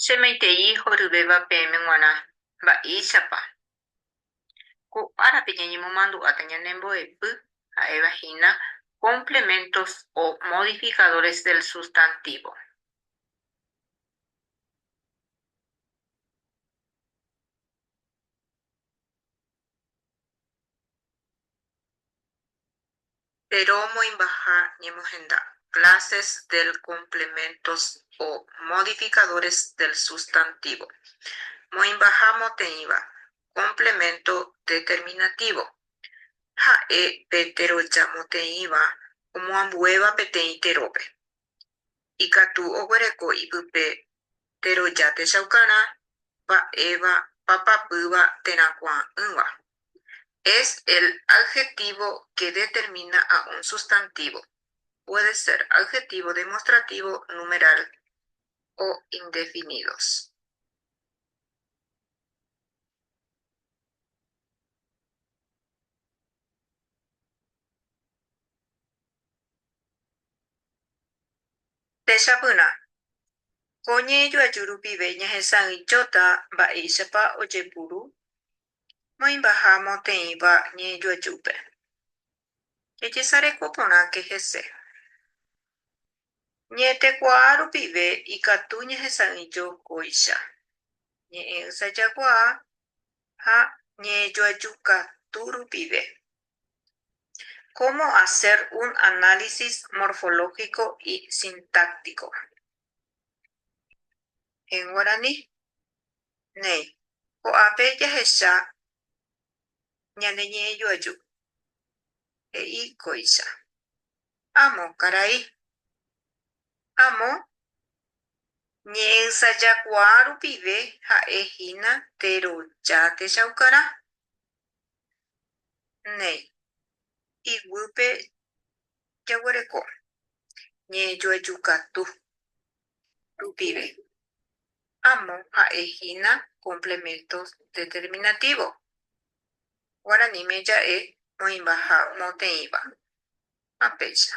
Che maitei horyvéva peẽme g̃uarã, mba'éichapa? Ko árape ñañemomandu'áta ñane mbo'epy ha'éva hína complementos o modificadores del sustantivo. Péro omoĩmbaha ñemohenda clases del complementos o modificadores del sustantivo. Moĩmbaha moteĩva complemento determinativo. Ha'e pe teroja moteĩva omoambuéva peteĩ terópe. ikatu oguereko ipype teroja techaukarã mba'éva papapýva térã kuaa'ỹva. Es el adjetivo que determina a un sustantivo, puede ser adjetivo demostrativo, numeral o indefinidos. Techapyrã, ko ñe'ẽjoaju rupive ñahesa'ỹijóta mba'éichapa ojepuru moĩmbaha moteĩva ñe'ẽjoajúpe. Jejesareko porãke hese. Ñe'ẽtekuaa rupive ikatu ñahesa'ỹijo kóicha, ñe'ẽ'ysajakuaa ha ñe'ẽjoaju katu rupive. Cómo hacer un análisis morfológico y sintáctico. En guaraní. Néi, ko'ápe jahecha ñane ñe'ẽjoaju. He'i kóicha. Amo karai. Amo ñe'ẽysajakuaa rupive ha'e hína teroja techaukarã. Néi, iguýpe jaguereko ñe'ẽjoejukatu rupive, amo ha'e hína complemento determinativo. Guaraníme ja'e oĩvaha moteĩva ha péicha.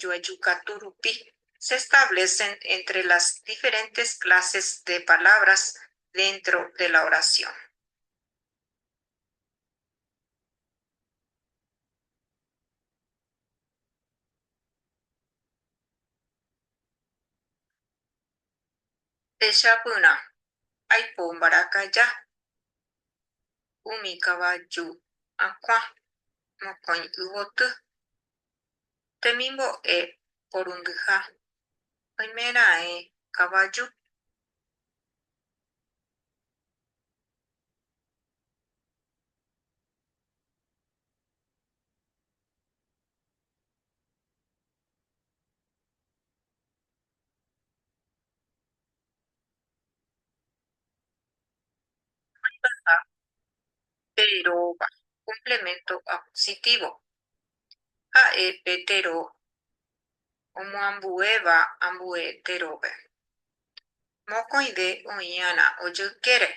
joajukatu rupi se establecen entre las diferentes clases de palabras dentro de la oración. Techapyrã, aipo mbarakaja, umi kavaju akũa, mokõi yvoty, Temimbo'e porundyha, oimeraẽ kavaju. Oĩvaha pe róga, complemento acusitívo. Ha'e pe tero omoambuéva ambue terópe. Mokõive oĩ'arã ojykére,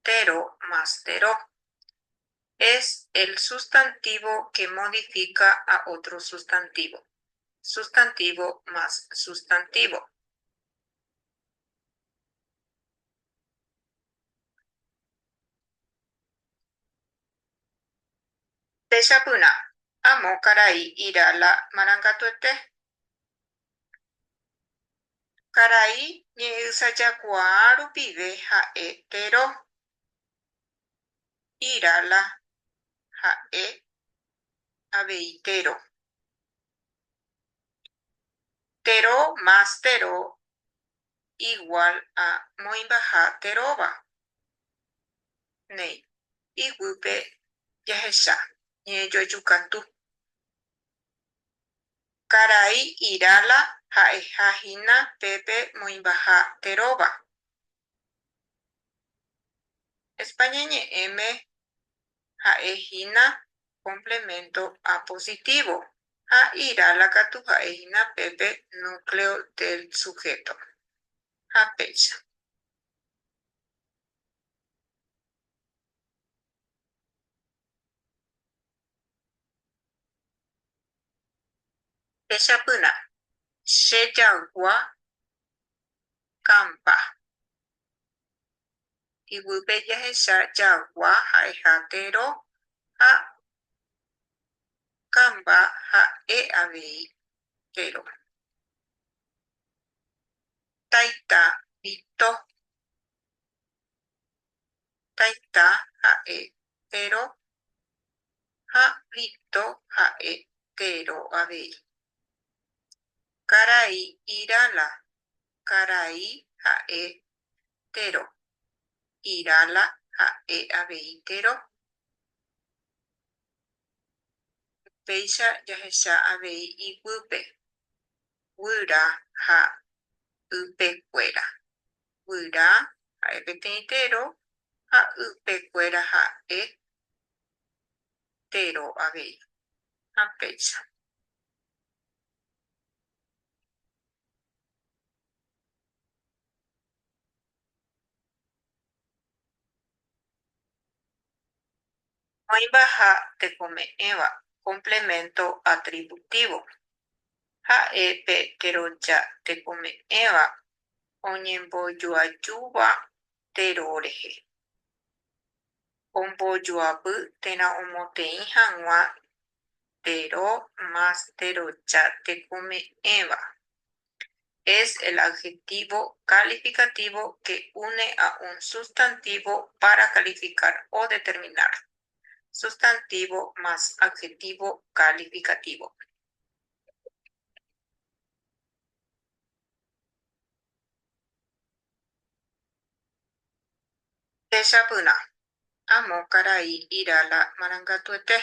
tero más tero. Es el sustantivo que modifica a otro sustantivo, sustantivo más sustantivo. Techapyrã, amo karai ira la marangatuete. Karai ñe'ysajakuaa rupive ha'e tero. Ira la ha'e avei tero. Tero más tero igual a moĩmbaha teróva. Néi. iguýpe jahecha ñe'ẽjoajukatu. Karai Irala ha'eha hína pépe moĩmbaha teróva. España ñe'ẽme ha'e hína complemento apositivo ha Irala katu ha'e hína pépe núcleo del sujeto. Ha péicha. Techapyrã. Che jagua kampa. Yvýpe jahecha jagua ha'eha tero ha kampa ha'e avei tero. Taita Vito. Taita ha'e Tero ha Vito ha'e Tero avei. Karai Irala Karai ha'e Tero. Irala ha'e avei Tero. Upéicha jahecha avei iguýpe, guyra ha ypekuéra. guyra ha'e peteĩ tero ha ype kuéra ha'e tero avei. Ha péicha. Oĩva ha tekome'ẽva complemento atributivo. Ha'e pe teroja tekome'ẽva oñembojoajúva Tero rehe, ombojoapy térã omoteĩ hag̃ua Tero más teroja tekome'ẽva, es el adjetivo calificativo que une a un sustantivo para calificar o determinar, sustantivo más adjetivo calificativo. Techapyrã. Amo karai ira la marangatuete.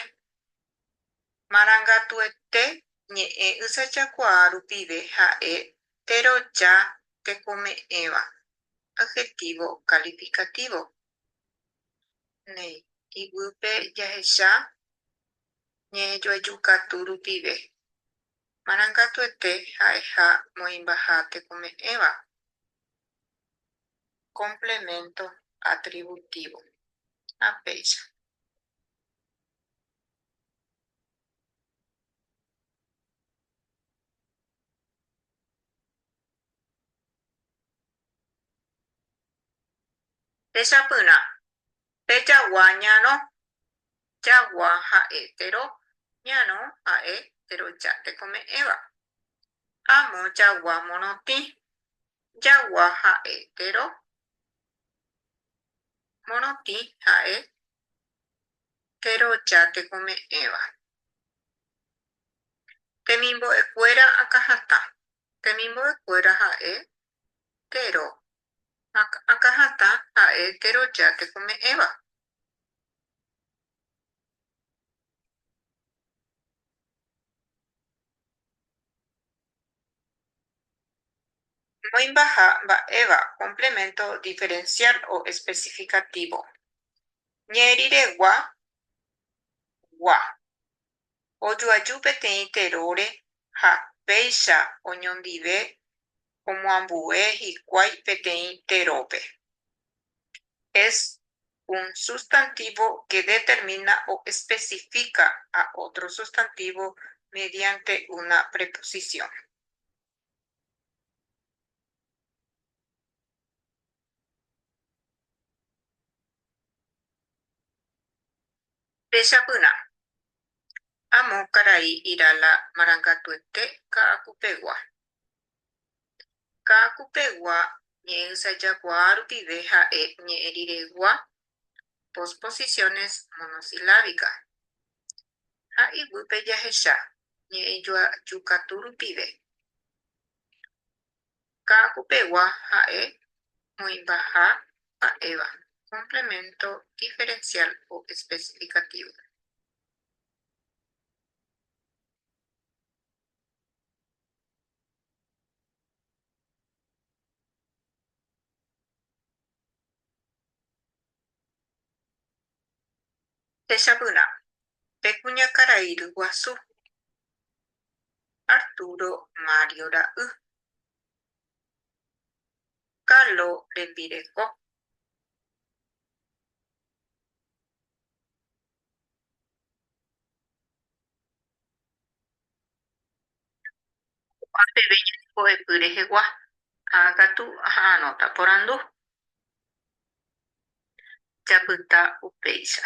Marangatuete ñe'ẽ ysajakuaa rupive ha'e teroja tekome'ẽva, adjetivo calificativo. Néi, iguýpe jahecha ñe'ẽjoajukatu rupive. Marangatuete ha'eha moĩmbaha tekome'ẽva. Complemento atributivo. Ha péicha. Techapyrã. Pejagua ñarõ. Jagua ha'e tero, ñarõ ha'e teroja tekome'ẽva. Amo jagua morotĩ. Jagua ha'e tero, morotĩ ha'e teroja tekome'ẽva. Temimbo'ekuéra akãhatã. Temimbo'ekuéra ha'e tero, akãhatã ha'e teroja tekome'ẽva. Moĩmbaha mba'éva complemento diferencial o especificativo. Ñe'ẽriregua gua. ojoaju peteĩ teróre ha péicha oñondive omoambue hikuái peteĩ terópe. Es un sustantivo que determina o especifica a otro sustantivo mediante una preposición. Péicha pyrã, amo karai ira la marangatuete ka'akupegua. Ka'akupegua ñe'ẽysajakuaa rupive ha'e ñe'ẽ riregua posposiciones monosilábicas. Ha iguýpe jahecha ñe'ẽjoaju katu rupive. Ka'agupegua ha'e moĩmbaha mba'éva, complemento diferencial o especificativo. Techapyrã, pe kuñakarai ryguasu, Arturo Mario ra'y, Carlo rembireko, Ko'ã peve ñande mbo'epy rehegua ha katu aha'arõta porandu japyta upéicha.